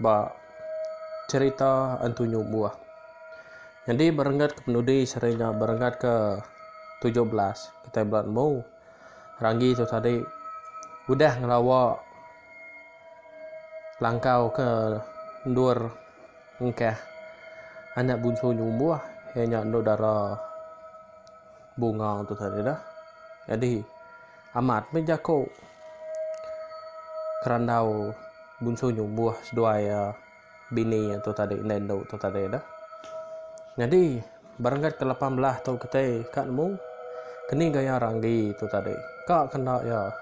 ba cherita entunyu buah. Nyadi ba renggat ke penudi seri nya ba renggat ke tujuh belas kitai bela nemu ranggi tu tadi udah ngelawa langkau ke endur engkah anak bunsu nyu buah iya nya endu dara. Bunga tu tadi dah. Jadi amat meh jako kerandau bunsu nyumbuh seduai uh, bini tu tadi indai endu tu tadi dah. Jadi berenggat ke lapan belah tu ketai kak nemu keni gaya ranggi tu tadi. Kak kenda ya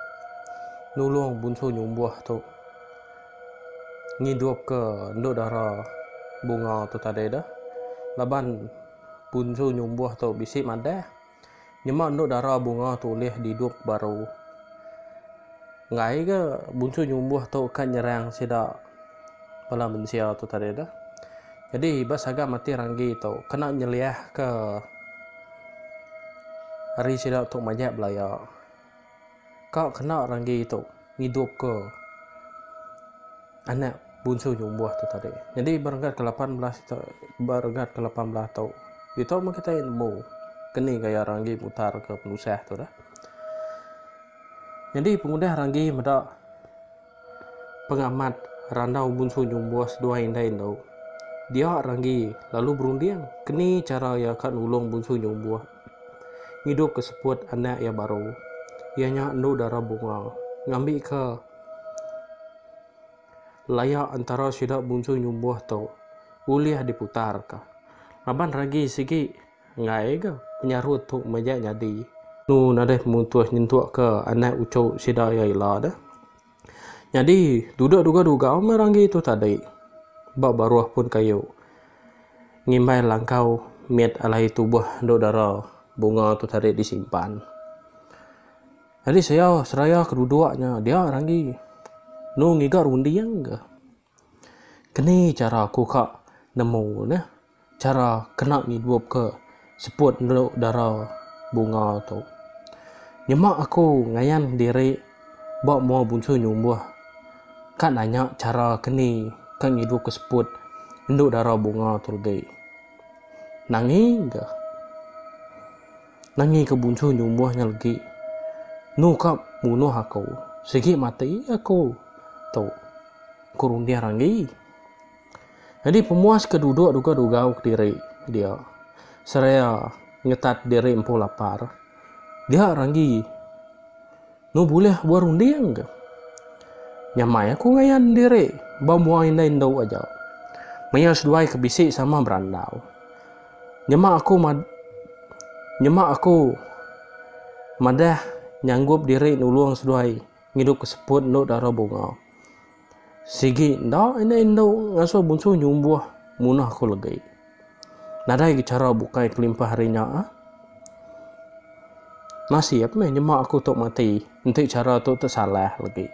nulung bunsu nyumbuh tu ngidup ke endu dara bunga tu tadi dah. Laban Punsu nyumbuh tu bisi madah, nyema endo dara bunga tu ulih didup baru. Enggai ke Bunsu nyumbuh tu ka nyerang sida bala mensia tu tadi tu. Jadi ba saga mati ranggi tu kena nyeliahka ari sida tu majak belaya. Ka kena ranggi tu ngidupka anak bunsu nyumbuh tu tadi. Nyadi ba renggat ke-18 tu, ba renggat ke-18 tu, ditu meh kitai nemu keni gaya ranggi mutarka penusah tu dah. Nyadi pengudah ranggi meda pengamat randau bunsu nyumbuh seduai indai endu, dia ranggi lalu berunding keni chara iya ka nulung bunsu nyumbuh. Ngidupka seput anak iya baru. Iya nya endu dara bunga. Ngambika layak entara sida bungsu nyumbuh tu ulih diputarka. Laban ragi sigi enggai ga penyarut tu majak nyadi. Anu nadai mutuh nyentukka anak uchu sida iya ila deh. Nyadi, duduk duga-duga meh ranggi tu tadi ba baruh pun kayu ngimbai langkau mit alai tubuh endu dara bunga tu tadi disimpan. Nyadi sia seraya ke duduk nya dia ranggi enu ngiga runding ke. Keni chara aku ka nemu neh chara kena ngidup ke seput endu dara bunga tu. Nyema aku ngayan diri ba mua bunsu nyumbuh ka nanya chara keni ka ngidup ke seput endu dara bunga tu legi. Nangi ga. Nangi ke bunsu nyumbuh nya legi. Nu ka munuh aku. Sigi mati aku tu, ku runding Ranggi. Nyadi pemuas ke duduk dugau-dugau kediri dia seraya ngetat diri empu lapar. Dia Ranggi. Enu bulih buah runding ke. Nyamai aku ngayan diri ba mua indai endu aja. Maya seduai ke bisi sama berandau. Nyema aku mad nyema aku madah nyanggup diri nulung seduai ngidup ke seput endu dara bunga. Sigi enda enda indu ngasuh bunsu nyumbuh munah ku legi. Nadai ke chara bukai kelimpah ari nya ah. Nasib meh nyema aku tu mati enti chara tu tu salah legi.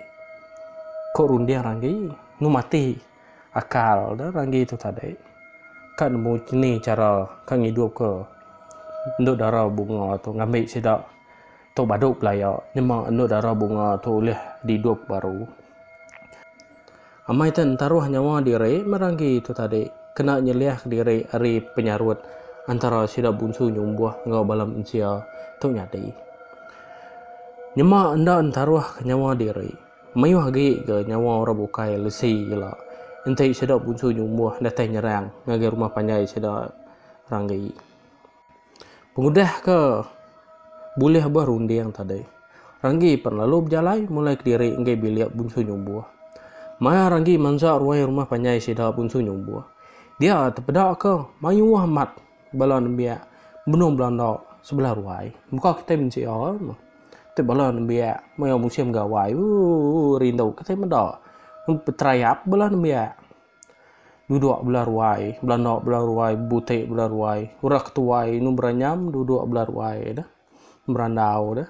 Ko runding ranggi nu mati akal dah ranggi tu tadi. Ka nemu chini chara ka ngidupka endu dara bunga tu ngambi sida. Tu badu pelaya nyema endu dara bunga tu ulih didup baru. Amai te entaruh nyawa diri meranggi tu tadi kena nyeliahka diri ari penyarut antara sida bunsu nyumbuh enggau bala mensia tu nyadi. Nyema enda entaruhka nyawa diri, mayuh agi ga nyawa orang bukai lesi ila enti sida bunsu nyumbuh datai nyerang ngagai rumah panjai sida ranggi. Pengudah ke bulih beh runding tadi, Ranggi pan lalu bejalai mulai kediri enggai bilik Bunsu Nyumbuh. Maya Ranggi mansa ruai rumah panjai sida Bunsu Nyumbuh, dia tepedaka mayuh amat bala nembiak benung belanda sebelah ruai. Muka kitai mensia meh. Ti bala nembiak maya musim gawai, ooh rindu kitai meda. Peterayap bala nembiak. duduk bela ruai belanda bela ruai bebutik bela ruai orang ke tuai inu beranyam duduk bela ruai dah berandau dah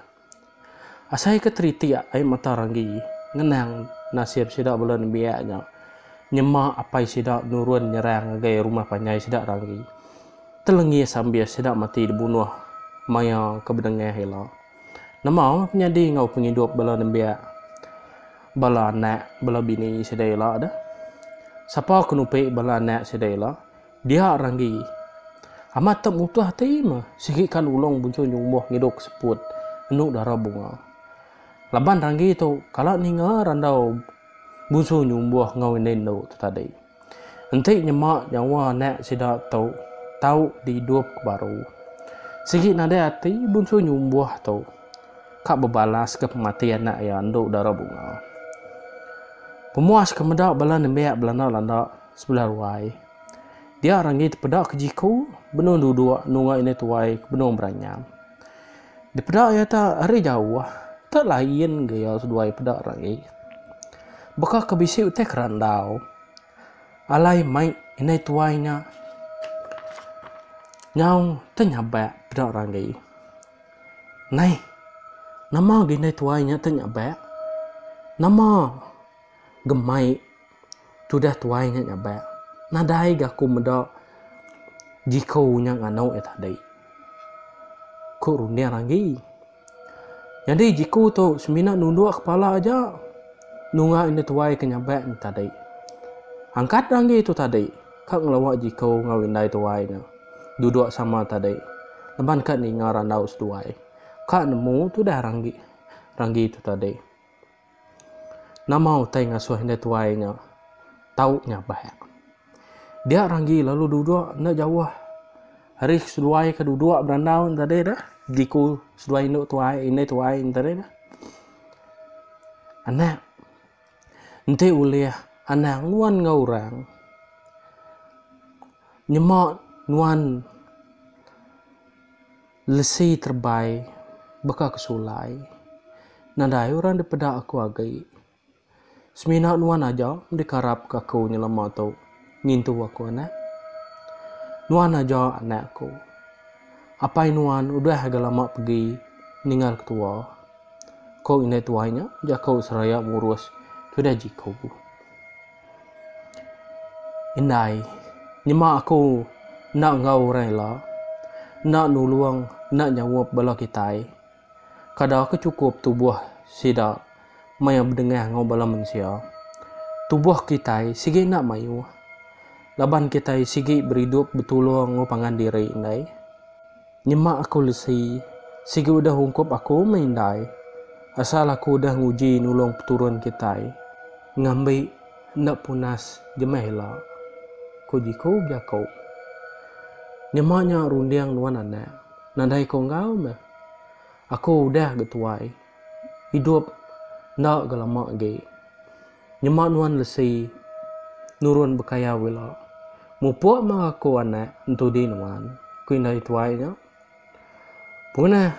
asai ke teritik ai mata ranggi ngenang nasib sida bela nembiak nya nyema apai sida nurun nyerang ngagai rumah panjai sida ranggi telengis ambis sida mati dibunuh maya ke bedengah ila. Nama ke nyadi enggau pengidup bala nembiak, bala anak, bala bini sida ila deh? Sapa ke nupi bala anak sida ila? Dia ranggi. Amat te mutuh ati meh sigi ka nulung buncung nyumbuh ngidup ke seput enu dara bunga. Laban ranggi tu kala ninga randau buncung nyumbuh enggau indai endu tu tadi. Enti nyema nyawa anak sida tu tau diidup ke baru, sigi nadai ati Bunsu Nyumbuh tu ka bebalaska pemati anak iya endu dara bunga. Pemuas ke meda bala nembiak belanda-landa sebelah ruai dia renggi tepeda ke jiku benung duduk nunga indu tuai ke benung beranyam. Dipeda iya ta ari jauh, ta lain ga iya seduai peda ragi. Baka ke bisi utai ke randau. Alai mai indai tuai nya nyau te nyabak peda ragi. Nai, nama ga indai tuai nya te nyabak? Nama gemai. Tudah tuai nya nyabak. Nadai ga aku meda Jiko nya nganu iya tadi. Ku runding agi. Nyadi Jiko tu semina nunduk kepala aja nunga indu tuai ke nyabak nya tadi. Angkat dah agi tu tadi ka ngelawa Jiko enggau indai tuai nya duduk sama tadi laban ka ninga randau seduai. Ka nemu tudah ranggi ranggi tu tadi. Nama utai ngasuh indai tuai nya tau nyabak? Dia Ranggi lalu duduk enda jauh ari seduai ke duduk berandau nya tadi tu, diku seduai indu tuai indai tuai nya tadi tu. Anak, enti ulih anang nuan enggau orang, nyema nuan. Lesi terebai baka ke sulai. Nadai orang dipeda aku agi. Semina nuan aja dikarap ke aku nyelama tu ngintu aku anak. Nuan aja anak aku. Apai nuan udah agai lama pegi ningal ke tua, ko indai tuai nya jaku seraya murus tudah jiku. Indai, nyema aku enda enggau orang ila, enda nulung, enda nyaup bala kitai. Kada ke chukup tubuh sida maya bedengah enggau bala mensia. Tubuh kitai sigi enda mayuh, laban kitai sigi beridup betulung enggau pangan diri indai. Nyema aku lesi, sigi udah ungkup aku meh indai. Asal aku udah nguji nulung peturun kitai ngambi enda punas jemah ila, ku Jiku bejaku. Nyema nya runding nuan anak, nadai ko enggau meh. Aku udah ga tuai, idup enda ga lama agi. Nyema nuan lesi. Nurun bekayau ila. Mupuk mah aku anak entudi nuan, ku indai tuai nya. Punah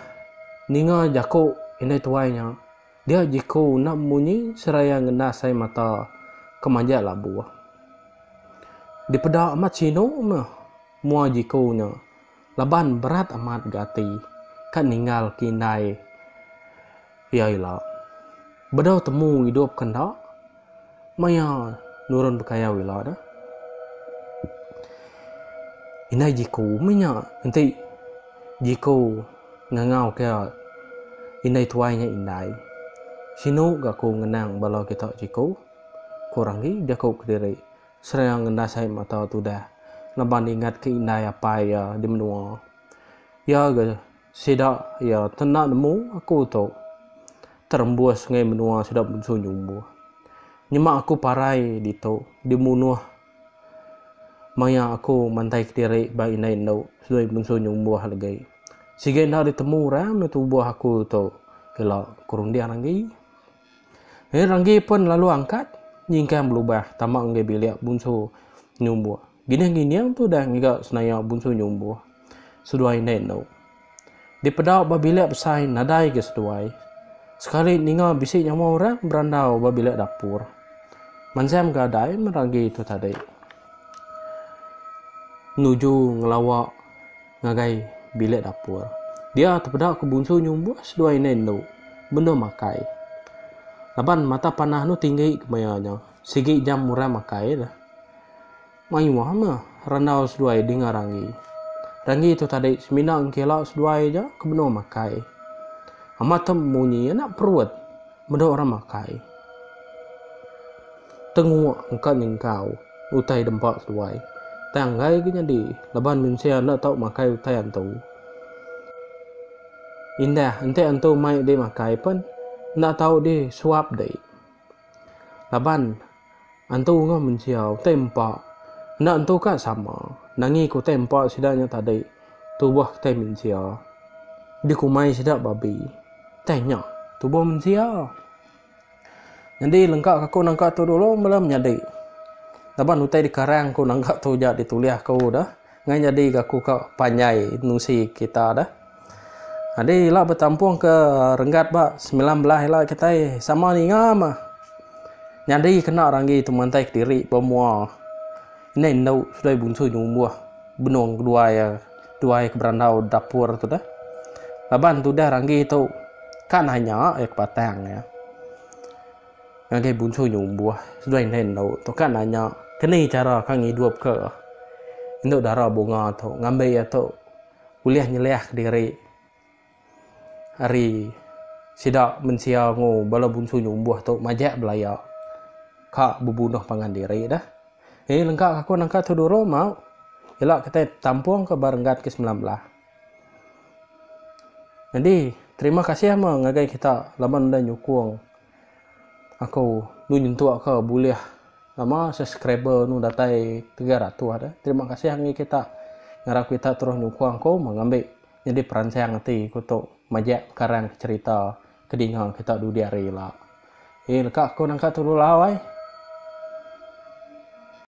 ninga jaku indai tuai nya, dia jiku enda munyi seraya ngendas ai mata ke majak labuh. Dipeda amat sinu meh mua jiku nya Laban berat amat ga ati ka ninggal ke indai iya ila. Bedau temu idup ke enda maya nurun bekayau ila da. Indai Jiko mih nya enti Jiko ngangau ke indai tuai nya indai. Sinu ga ku ngenang bala kita Jiko, ku Ranggi jaku kediri. Seraya ngendas ai mata tudah laban ingatka indai apai iya di menua. Iya ga sida iya te enda nemu aku tu terembus ngai menua sida munsuh nyumbuh. Nyema aku parai ditu dimunuh maya aku mantai kediri ba indai endu seloi munsuh nyumbuh legi. Siga enda ditemu orang meda tubuh aku tu ila ke runding agi. Nya renggi pen lalu angkat nyingkang belubah tama enggai bilik bunsu nyumbuh. Ginih ngining tudah ngiga senaya bunsu nyumbuh seduai indai enu. Dipedau ba bilik besai nadai ga seduai. Sekali ninga bisi nyawa orang berandau ba bilik dapur. Manzam ga adai men renggi tu tadi nuju ngelawa. ngagai bilik dapur. Dia tepeda ke Bunsu nyumbuh seduai indai endu benung makai. Laban mata panah enu tinggi kemaya nya, sigi jam orang makai deh. Mayuh meh randau seduai dinga Ranggi. Ranggi tu tadi semina engkila seduai aja ke benung makai. Amat tem munyi enda perut meda orang makai. Tenguk engka nyengkau. Utai dempa seduai. Utai anggai ke nyadi laban mensia enda tau makai utai antu. Indah enti antu mai dih makai pen enda tau dih suap dih. Laban antu enggau mensia utai empa enda entu ka sama. Nangi ke utai empa sida nya tadi tubuh utai mensia. Dikumai sida babi. Utai nya tubuh mensia. Nyadi lengka ka ku nangka tu dulu mela menyadi. Laban utai dikarang ku nangka tu ja ditulis ku da ngai nyadi ga ku ka panjai nusi kita da. Nyadi ila betampung ke renggat ba semilan belas ila kitai sama ninga mah nyadi kena ranggi tu mantai kediri ba mua. Endai endu seduai bunsoi nya umbuh benung kedua iya duai ke berandau dapur tu deh. Laban tudah ranggi tu ka nanya iya ke batang iya ngagai bunsoi nya umbuh seduai endai endu tu ka nanya ke ni chara ka ngidup ke endu dara bunga tu ngambi iya tu ulih nyeliah ke diri. Ari sida mensia engu bala bunsu nyumbuh tu majak belaya ka bebunuh pangan diri dah. Nyadi lengka aku nangka tu dulu mau ila kitai betampung ka ba renggat ke semilan belah. Nyadi terima kasih ama ngagai kita laban udah nyukung aku lu nyentuk ka bulih ama subscriber anu datai tiga ratus dah. Terima kasih ngagai kita ngarap kita terus nyukung aku mengambi. Nyadi peransang ati ku tu majak karang ke cherita ke dinga kita dudi hari ila. Ye leka aku nangka tu lulau ai.